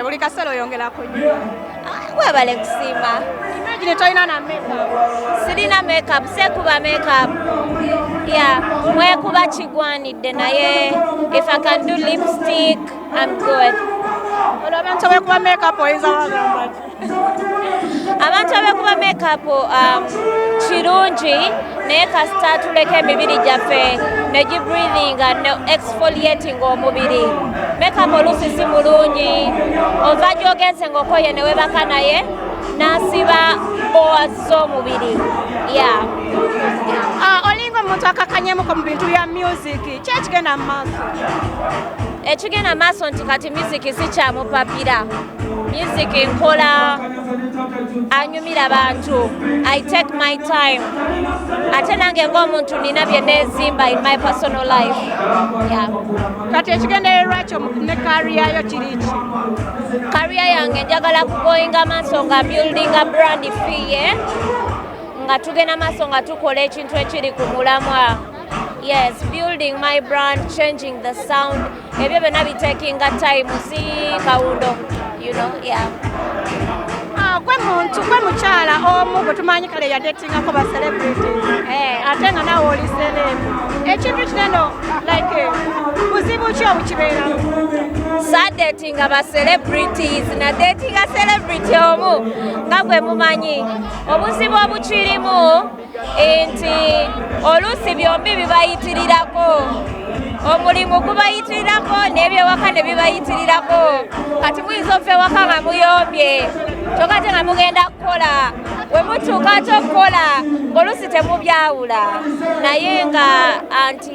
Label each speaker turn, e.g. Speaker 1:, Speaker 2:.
Speaker 1: buli kaseera oyongerako nyo ah, webale
Speaker 2: kusiima imagine tolina
Speaker 1: na makeup sirina makeup
Speaker 2: sekuba makeup ya mwekuba kigwanidde naye if i can do lipstick i'm good olwo abantu
Speaker 1: bwekuba makeup oyinza wagambaki
Speaker 2: abantu abekuba makeup um, kirungi naye kasita tuleka emibiri gyaffe ne gibreathinga ne exfoliating omubiri makeup oluusi si mulungi ova gyogenze ngaokoye newebaka naye nasiba bowa z'omubiri ya ah,
Speaker 1: olinga omuntu akakanyemuko mu bintu bya music kyekigenda mu maaso
Speaker 2: ekigenda maaso nti kati miziki sikyamupapira music nkola anyumira bantu i take my time ate nange ngaomuntu nina byenezimba in my personal life kati
Speaker 1: ekigendererwa kyo ne kariyayo kiriki kariya
Speaker 2: yange njagala kugoinga maaso nga buildinga brand fiye nga tugenda maaso nga tukola ekintu ekiri ku mulamwa yes building my brand changing the sound ebyo byonna bitekinga time si kawundo you know, yeah. Ah, gwe muntu
Speaker 1: gwe mukyala omu gwe tumanyi kale yadetingako ba celebrity eh. ate nga nawe oli celebu ekintu kineno like buzibu ki obukibeeramu sadetinga
Speaker 2: ba celebrities nadetinga celebrity omu nga gwe mumanyi obuzibu obukirimu nti oluusi byombi bibayitirirako omulimu gubayitirirako n'ebyewaka ne bibayitirirako kati muyinza okuva ewaka nga muyombye kyoka te nga mugenda kukola we mutuuka ate okukola ng'oluusi temubyawula naye nga anti